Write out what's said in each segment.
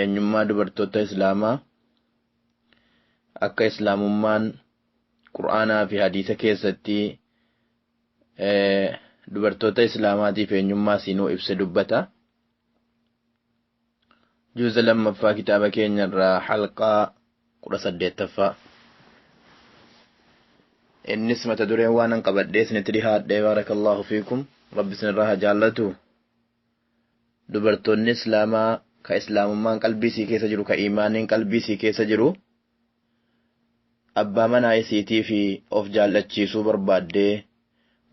Eenyummaa dubartoota Islaamaa akka Islaamummaan Qur'aanaa fi Hadiisa keessatti dubartoota Islaamaatiif eenyummaa siinuu ibse dubbata. Juuza lammaffaa kitaaba keenyarraa halqaa kudha saddeettaffaa. Innis mata dureen waan an qabadhee isinitti dhihaadhe baarakallahu fiikum rabbi isinirraa haa jaallatu. dubartoonni islaamaa ka islaamummaan qalbii isii keessa jiru ka iimaaniin qalbii isii keessa jiru abbaa manaa isiitii fi of jaal'achiisuu barbaaddee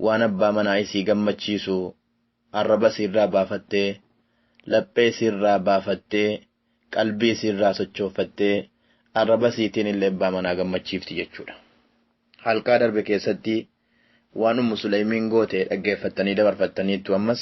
waan abbaa manaa isii gammachiisu arraba isiirraa baafattee laphee isiirraa baafattee qalbii isiirraa sochooffattee arraba isiitiin illee abbaa manaa gammachiifti jechuudha halqaa darbe keessatti waan ummu suleymiin goote dhaggeeffattanii dabarfattaniittu ammas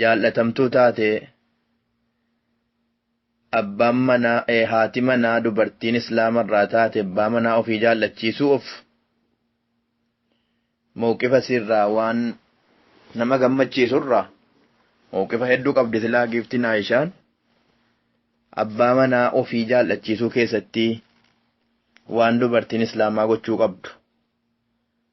jaal'atamtuu taate abbaan manaa ee haati manaa dubartiin islaama irraa taate abbaa manaa ofii jaal'achiisuu of mawqifa sirraa waan nama gammachiisu irraa mawqifa hedduu qabdi silaa giiftiin Aayishaan abbaa manaa ofii jaal'achiisuu keessatti waan dubartiin islaamaa gochuu qabdu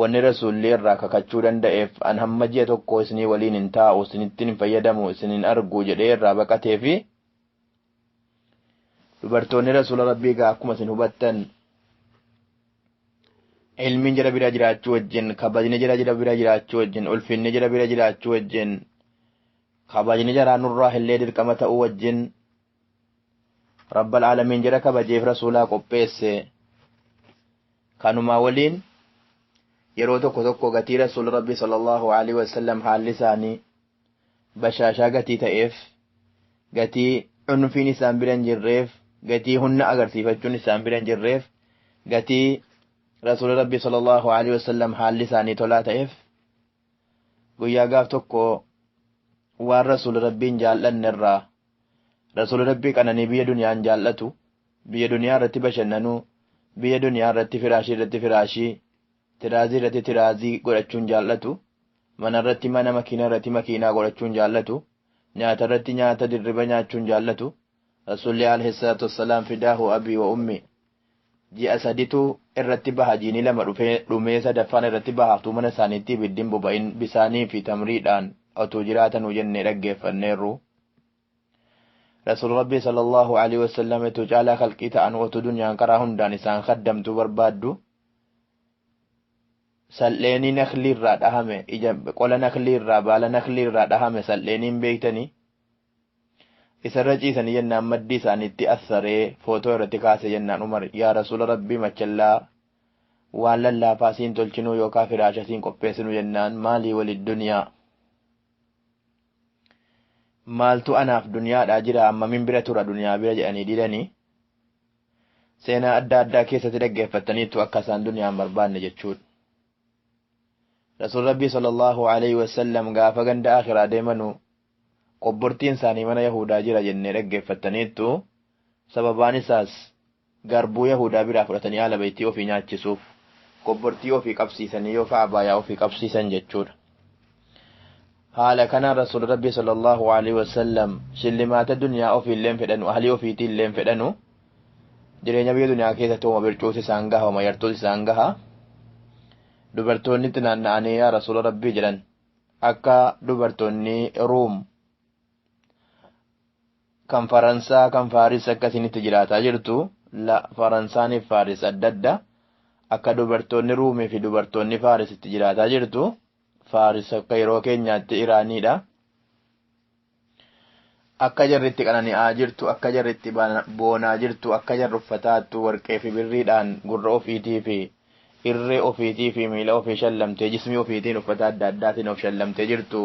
Wanni Rasuulli irraa kakachuu danda'eef, an hamma ji'a tokkoo isinii waliin hin taa'u, isinittin hin fayyadamu, isin hin argu jedhee irraa baqateefi. Dubartoonni Rasuula Rabbii egaa akkuma isin hubattan ilmiin jara bira jiraachuu wajjin, kabajni jara jira bira jiraachuu wajjin, ulfinni jara bira jiraachuu wajjin, kabajni jaraa nurraa illee dirqama ta'uu wajjin, Rabbal Aalamiin jara kabajeef Rasuulaa qopheesse. Kanumaa waliin yeroo tokko tokko gatii Rasuul Rabbi sallallahu alaihi wasallam haalli isaanii bashaashaa gatii ta'eef gatii cunfiin isaan bira hin jirreef gatii hunna agarsiifachuun isaan bira hin jirreef gatii Rasuul Rabbi sallallahu alaihi wasallam haalli isaanii tolaa ta'eef guyyaa gaaf tokko waan rasuula rabbiin jaal'anne irraa rasuula rabbii qananii biyya duniyaan jaal'atu biyya duniyaa irratti bashannanuu biyya duniyaa irratti firaashii irratti firaashii tiraazii irratti tiraazii godhachuun jaal'atu mana irratti mana makiinaa irratti makiinaa godhachuun jaal'atu nyaata irratti nyaata dirriba nyaachuun jaal'atu rasuulli alayhi salaatu wassalaam fidaahu abii wa ummii Ji'a saditu irratti baha jiini lama dhufee dhumee sadaffaan irratti baha utuu mana isaaniitti ibiddi hin boba'in bisaanii fi tamriidhaan otuu jiraatanuu jennee dhaggeeffanneerru. Rasuul Rabbii sallallahu aleyhi wasallam etuu caalaa khalqii ta'anuu otuu dunyaan karaa hundaan isaan khaddamtuu barbaaddu sal'eenii naklii irraa dhahame ija qola naklii irraa baala naklii irraa dhahame sal'eenii hin beektanii? Isarra ciisanii jennaan maddii isaaniitti assaree footoo irratti kaase jennaan Umar yaa Rasuula Rabbii machellaa waan lallaafaa siin tolchinuu yookaa firaasha siin qopheessinuu jennaan maalii wali duniyaa maaltu anaaf duniyaadhaa jira hammamin bira tura duniyaa bira jedhanii didanii seenaa adda addaa keessatti dhaggeeffattaniittu akka isaan duniyaan barbaanne jechuudha. Rasuul Rabbii sallallahu alaihi wasallam gaafa ganda akiraa deemanuu Qobbortiin isaanii mana Yahuudaa jira jennee dhaggeeffattaniittu, sababaan isaas, garbuu Yahuudaa biraa fudhatanii Aala Baytii ofii nyaachisuuf, qobbortii ofii qabsiisanii yookaa abaayaa ofii qabsiisan jechuu dha. Haala kanaan Rasuulli Rabbii sallallaahu aleyhi wa sallam shillimaata duniyaa ofii illee hin fedhanu, ahlii ofiitii illee hin fedhanu, jireenya biyya duniyaa keessatti homa bircuutu isaan gaha, homa yartuutu isaan gaha. Dubartoonni itti naanna'anii yaa Rasuula Rabbii jedhan, Akka dubartoonni Ruum kan Faransaa kan Faaris akka isinitti jiraataa jirtu la Faransaaniif Faaris adda adda akka dubartoonni Ruumii fi dubartoonni Faaris itti jiraataa jirtu Faaris akka yeroo keenyaatti Iraaniidha. Akka jarri itti qanani'aa jirtu, akka jarri itti boonaa jirtu, akka jarri uffataattu warqee fi birriidhaan gurra ofiitii fi irree ofiitii fi miila ofii shallamtee jismii ofiitiin uffata adda addaatiin of shallamtee jirtu,